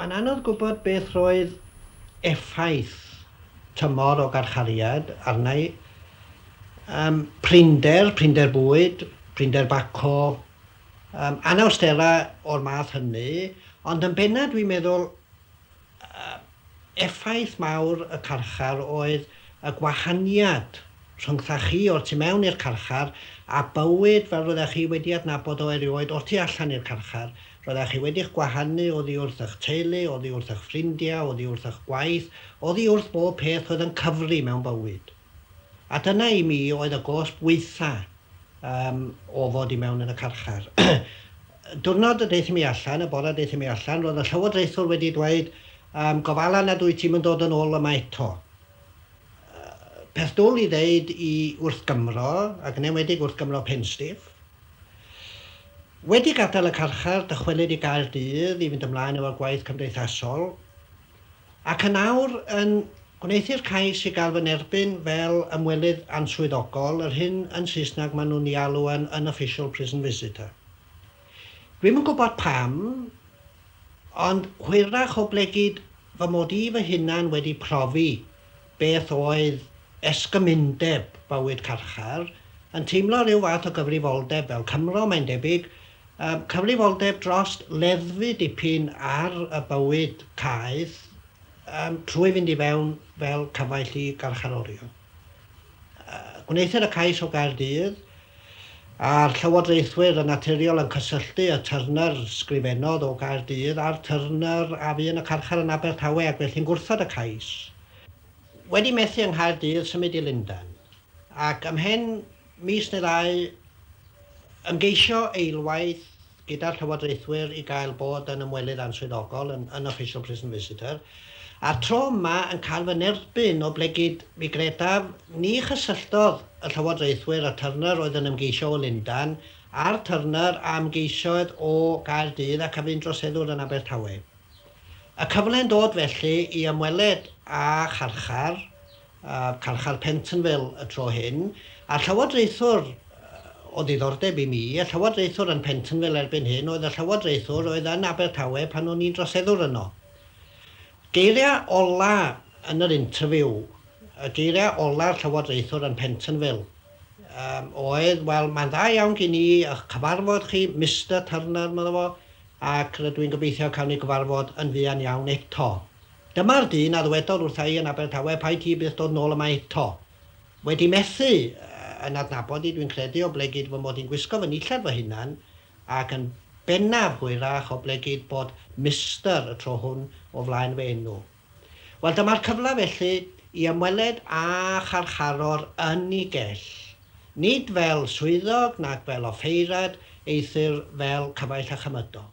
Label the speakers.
Speaker 1: Mae'n anodd gwybod beth roedd effaith tymor o garchariad arna i. Yym, prinder, prinder bwyd, prinder baco, yym, anawsterau o'r math hynny, ond yn bennaf dwi'n meddwl, yy, effaith mawr y carchar oedd y gwahaniad Rhyngthach chi o'r tu mewn i'r carchar, a bywyd fel roeddech chi wedi adnabod o erioed o'r tu allan i'r carchar. Roeddech chi wedi'ch gwahanu oddi wrth eich teulu, oddi wrth eich ffrindiau, oddi wrth eich gwaith, oddi wrth bob peth oedd yn cyfri mewn bywyd. A dyna i mi oedd y gosb waetha um, o fod i mewn yn y carchar. Diwrnod y deithio mi allan, y bore deithio mi allan, roedd y llywodraethwr wedi dweud, um, gofala nad wyt ti'n mynd dod yn ôl yma eto. peth dwl i ddeud i wrth Gymro, ac yn enwedig wrth Gymro Penstiff. Wedi gadael y carchar, dychwelyd i Gaerdydd i fynd ymlaen efo'r gwaith cymdeithasol, ac yn awr yn gwneuthur cais i gael fy nerbyn fel ymwelydd answyddogol, yr hyn yn Saesneg maen nhw'n ei alw yn unofficial prison visitor. Dwi'm yn gwybod pam, Ond hwyrach oblegid fy mod i fy hunan wedi profi beth oedd esgymundeb bywyd carchar, yn teimlo rhyw fath o gyfrifoldeb fel Cymro, mae'n debyg, yym, cyfrifoldeb drost leddfu dipyn ar y bywyd caeth, yym, trwy fynd i fewn fel cyfaill i garcharorion. Gwnaethir y cais o Gaerdydd, a'r llywodraethwyr yn naturiol yn cysylltu y Turner sgrifennodd o Gaerdydd a'r Turner a fu yn y carchar yn Abertawe ac felly'n gwrthod y cais. Wedi methu yng Nghaerdydd, symud i Lundain, ac ymhen mis neu ddau ymgeisio eilwaith gyda'r llywodraethwyr i gael bod yn ymwelydd answyddogol yn yn Official Prison Visitor, a'r tro yma yn cael fy nerbyn oblegid, mi gredaf, ni chysylltodd y llywodraethwyr â Turner oedd yn ymgeisio o Lundan, a'r Turner a ymgeisiodd o Gaerdydd ac a fu'n droseddwr yn Abertawe. Y cyfle'n dod felly i ymweled â charchar a Carchar Pentonville y tro hyn, a llywodraethwr o ddiddordeb i mi, y llywodraethwr yn Pentonville erbyn hyn oedd y llywodraethwr oedd yn Abertawe pan o'n i'n droseddwr yno. Geiriau ola' yn yr interview, y geiriau ola'r llywodraethwr yn Pentonville um, oedd, wel, mae'n dda iawn gen i ych cyfarfod chi, Mister Turner, medda fo, ac rydw i'n gobeithio cawn ni gyfarfod yn fuan iawn eto. Dyma'r dyn a ddwedodd wrtha i yn Abertawe paid ti byth dod nôl yma eto. Wedi methu yn adnabod i dwi'n credu o ble gyd fy mod i'n gwisgo fy nillad fy hunan ac yn bennaf hwyrach o ble gyd bod Mister y tro hwn o flaen fy enw. Wel dyma'r cyfle felly i ymweled â charcharor yn i gell. Nid fel swyddog nac fel offeiriad eithr fel cyfaill a chymydog.